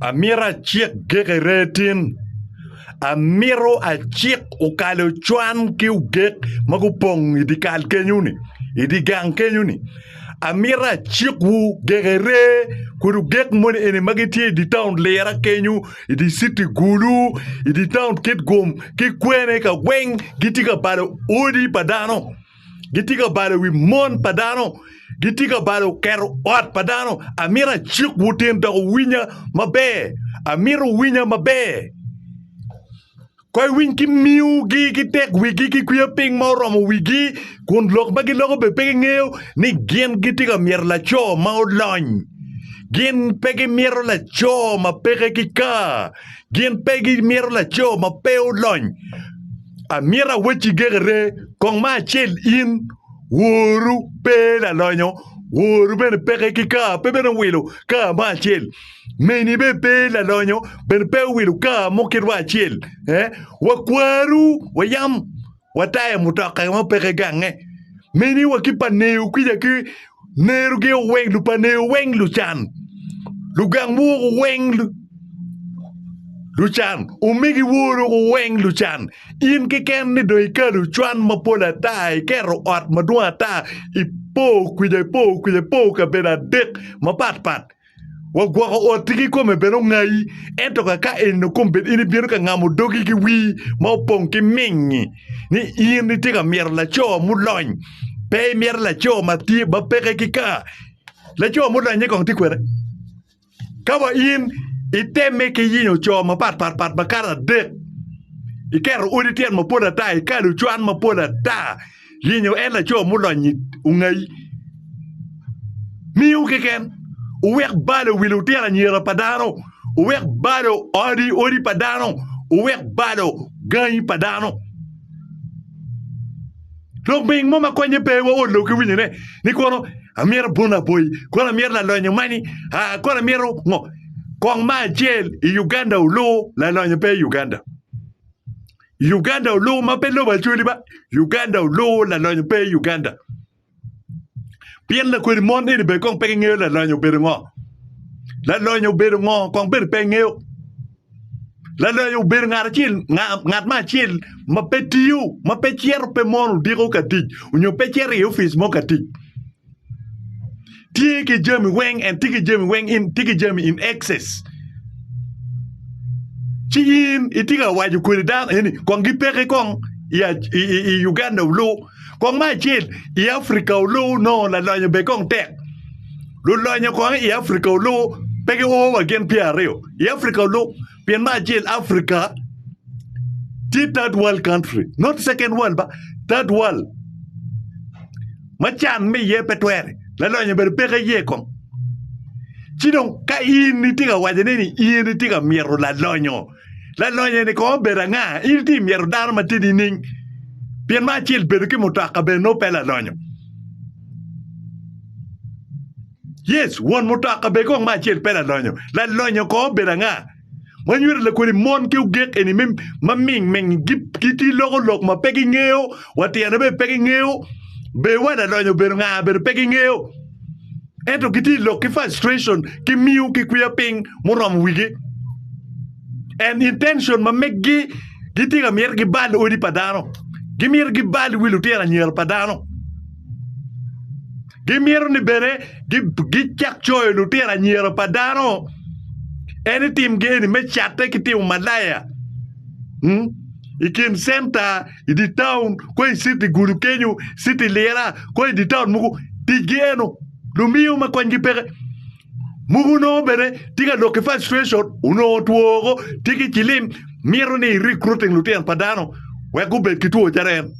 Amito acik gekere tin. Amito acik okale ocwan ki ogek ma gupong i dye kal kenyo-ni, i dye gang kenyo-ni. Amito acikwu gekere kun ogek moni eni ma gitye i dye taun Lira kenyo, i dye citi Gulu, i dye taun Kitgum ki kwene ka weng gitye ka balo odi pa dano. Gitye ka balo wi mon pa dano. Gitye ka balo keto ot pa dano. Amito acik wutin dok winya maber. Amito winya maber. Koi winy ki miugi ki tek wigi ki kwiya ping ma oromo wigi kun lok ma giloko be pe gingeyo ni gin gitye ka myero laco ma olony gin pe gimyero laco ma peke ki ka Gin pe gimito laco ma pe olony. Amito awecci gekere, kong ma acel in, woru pe lalonyo, woru bene peke ki kaa pe bene owilo kaa mo acel, meni bene pe lalonyo, bene pe owilo kaa mo kitwa acel. Eh? Wakwaru, wayam. wa taya mutoka ma peke gange. Mini wa ki paneyo kica ki nero gi oweng lu paneyo weng lu can. Lu gang bu ku weng lu lu can. Umigi woro ku weng lu can. In ki ken ni do ikalo cwan ma pol ata iketo ot madwong ata ipo kica ipo kica ipo kabedo adek ma pat pat. Wa gwoko otti ki kome bene ongayi, ento ka ka eno kom bed in ibino ka ngamo dogi ki wii ma opong ki mingi ni in itye ka myero laco mulony pe imyero laco ma tye ma peke ki ka laco mulonye kong tye kwene ka wa in iteme ki yingo co mapat pat pat makato adek ikero odi tyen mapol ata ikalo cwan mapol ata Yenyo en laco mulony i ungayi miu keken, uwek balo wi lutino anyira pa dano, uwek balo odi odi pa dano, uwek balo gangi pa dano. Lok ming mo ma konye pe wa ot loki winyo ne ni kono amyero abun aboyi kono amyero lalonyo mani a kono amyero ngo kong ma acel i Uganda ulu lalonyo pe i Uganda Uganda oluwo ma pe lobo acwali ba. Uganda oluwo lalonyo pe i Uganda. Pien lakodi mon eni be kong pe gingeyo lalonyo obedo ngo. Lalonyo obedo ngo kong bene pe ngeyo. Lalonyo obedo ngat acel ngat ma acel ma pe tiyo, ma pe cito pe mono diko ka tic onyo pe cito i ofice mo ka tic. Tye ki jami weng en tye ki jami weng in tye ki jami in excess. Ci in itye ka waco kwede dano eni kong gipeki kong i Uganda olu kong ma acel i Africa olu nongo lalonyo bed kong tek. Lulonyo kong i Africa olu pe gio wa gin pyera aryo i Africa olu. Pien me acel Africa tye third world country, not second world ba, third world. Ma can me iye pe twere, lalonyo bene peke iye kong. Ci dong ka in itye ka wacone ni in itye ka myero lalonyo, lalonyo ni kong obedo anga? In itye myero dano ma tye nining? Pien me acel bedo ki mutoka bene nongo pe lalonyo. Yes, won mutoka bed kong me acel pe lalonyo. Lalonyo kong obedo anga? Wanyuto lakodi mon ki ogek eni me ma ming ming giti loko lok ma pe gingeyo, wa tyene be pe gingeyo, be wa lalonyo obedo nga be pe gingeyo. Ento giti lok ki frustration ki miyo ki kwiya ping muromo wigi. And intention ma meggi giti ka mito gibal odi pa dano. Gimito gibal wi lutino anyira pa dano. Gimito ni bene gicak coyo lutino anyira pa dano. En ni timgi eni me catte ki timo malaya. Hmm? I kin centa, i di taun, ko i city gulu kenyo, city lira, ko i di taun muku, ticgi eno. Lumiyo ma konygi peke. Muku onongo bene tye ka lok ki frustration, onongo two woko, tye ki cilim, mito ni recruiting lutino pa dano wek gubed ki two calo en.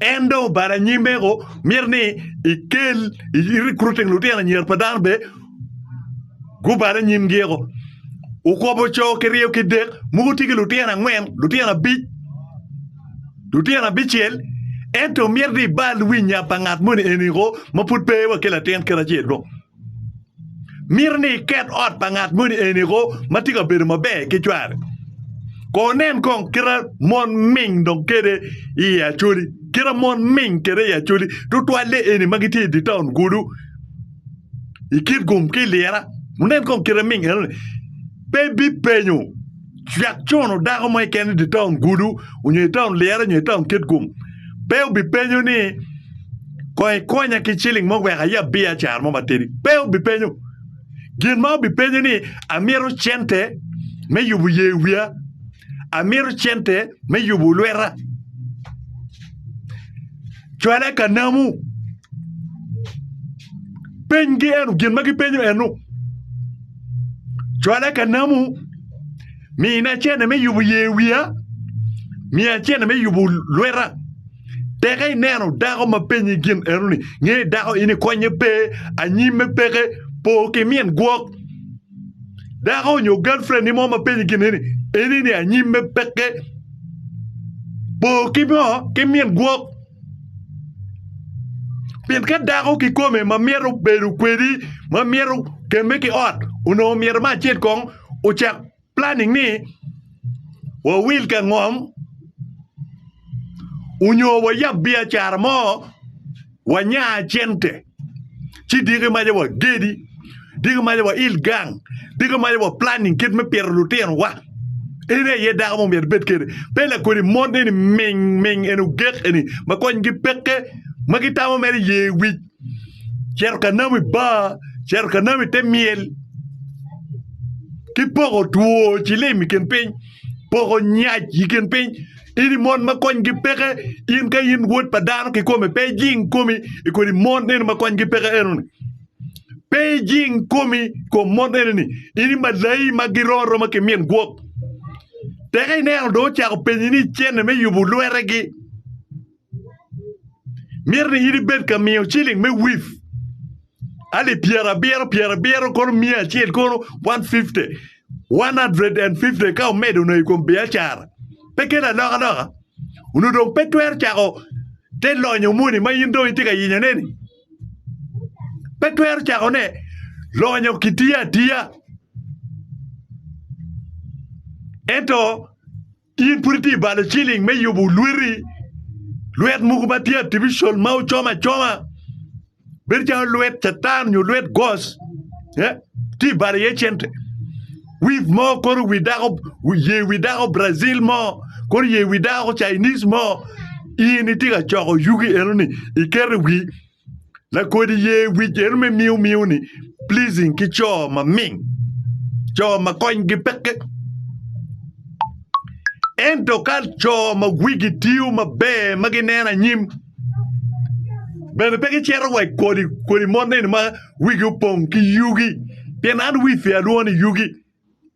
En dong obalo anyim meko, mito ni ikel i recruiting lutino anyira pa dano bene gubal anyim giko. Okobo co ki ryo ki dek, muku tye ki lutino angwen, lutino abic. Lutino abicel, ento myero ni ibal winya pa ngat moni eni ko ma pud pe wa ki latin kit acel ko. Mito ni iket ot pa ngat moni eni ko ma tye ka bedo maber ki cware. Ko nen kong kita mon ming dong kede i Acholi, kita mon ming kede i Acholi, tutwalle eni ma gitye i di taun gudu, i Kitgum ki i Lira. Wunen kong kita ming enoni. Pe ibipenyo cwek cono dako mo keken i dye taun gudu onyo i taun Liyara onyo i taun Kitgum. Pe obipenyo ni kong ikonya ki ciling mo wek aye abiacara mo matidi. Pe obipenyo. Gin ma obipenyo ni amito cente me yubo ye wiya, amito cente me yubo lweta. Cwale ka namu. Penygi eno gin ma gipenyo eno. Cwala ka namu, mina cene me yubo ye wiya, miya cene me yubo lweta. Teke ineno dako ma penyi gin enoni, nge dako in ikonye pe, anyimme peke, po ki min gwok. Dako nyo galfrendi mo ma penyi gin eni, enini anyimme peke, po ki ngo, ki min gwok. Pien ka dako kikome ma myero obedo kwedi ma myero kemme ki ot onongo myero me acel kong ocak planning ni wawil ka ngom onyo wayab biacara mo wanya cente. ci diki maca wa gedi diki maca wa il gang diki maca wa planning kit me pito lutinowa en aye dako mo myero bed kede pe lakodi mon eni ming ming eni ogek eni ma konygi peke ma gitamo mere ye wic cito ka namo i bar cito ka namo i te myel ki poko two cilim i kin piny poko nyac i kin piny In i mon ma konygi peke, in ka in wod pa dano kikome, pe ijing komi i kodi mon eno ma konygi peke enoni. Pe ijing komi kom mon enoni. In i malai ma giro aroma ki min gwok. Teka ineno do ocako penyi ni cene me yubo lwetegi. Myero ni in ibed ka miyo ciling me wif alip pyerabiro pyerabiro kono miya acel kono 150 150 ka omedo nongo i kom biacara pe kelo alokaloka onongo dong pe twero cako te lonyo moni ma in dong itye ka yenyone-ni pe twero cakone lonyo kitiyo atiya ento In pud itye balo ciling me yubo lweti? Lwet mogo ma tye artificial ma ocom acoma bedo calo lwet catan nyo lwet goc eh? Tye balo iye cente. Wif mo kono wi dako ye wi dako Brazil mo kono ye wi dako Chinese mo in itye ka coko yugi enoni iketo i wi Lakodi ye wic eno me miu miu ni pleasing ki co ma ming, co ma konygi peke. Ento ka co ma wigi tiyo maber ma gineno anyim bene pe gicito wa i kodi kodi mot neni ma wigi opong ki yugi pien an wifi alwongo ni yugi.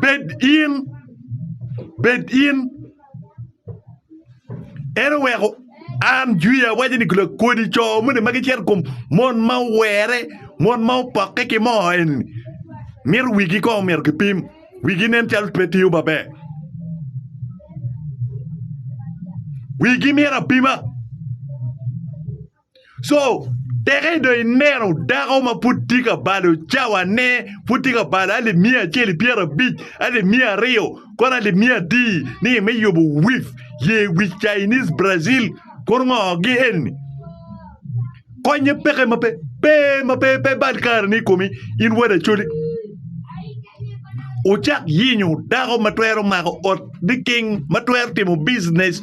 Bed in. En oweko an jwiya awaco ni gula kodi co moni ma gicito i kom mon ma owere mon ma opokke ki moo eni mito wigi kong omyero kipim wigi nen calo pe tiyo maber wigi myero apima. So teke dong ineno dako ma pud tye ka balo cawane, pud tye ka balo alip miya acel i pyerabic, alip miya aryo, kono alip miya atir ni me yubo wif ye wic Chinese Brazil kono ngo gi eni. Konye peke ma pe pe ma pe pe bal kareni i komi in wad acoli. Wucak yinyo dako ma twero mako ot liking, ma twero timo biznes.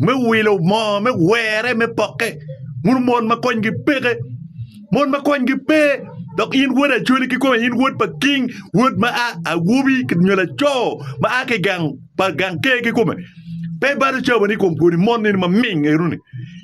me wilo moo me were me poke mono mon ma konygi peke mon ma konygi pe dok in wod acholi kikome in wod pa king wod ma a awobi nyo laco ma a ki gang pa gang ker kikome pe balo cawa ni i kom kwoni mon eni ma ming eno ni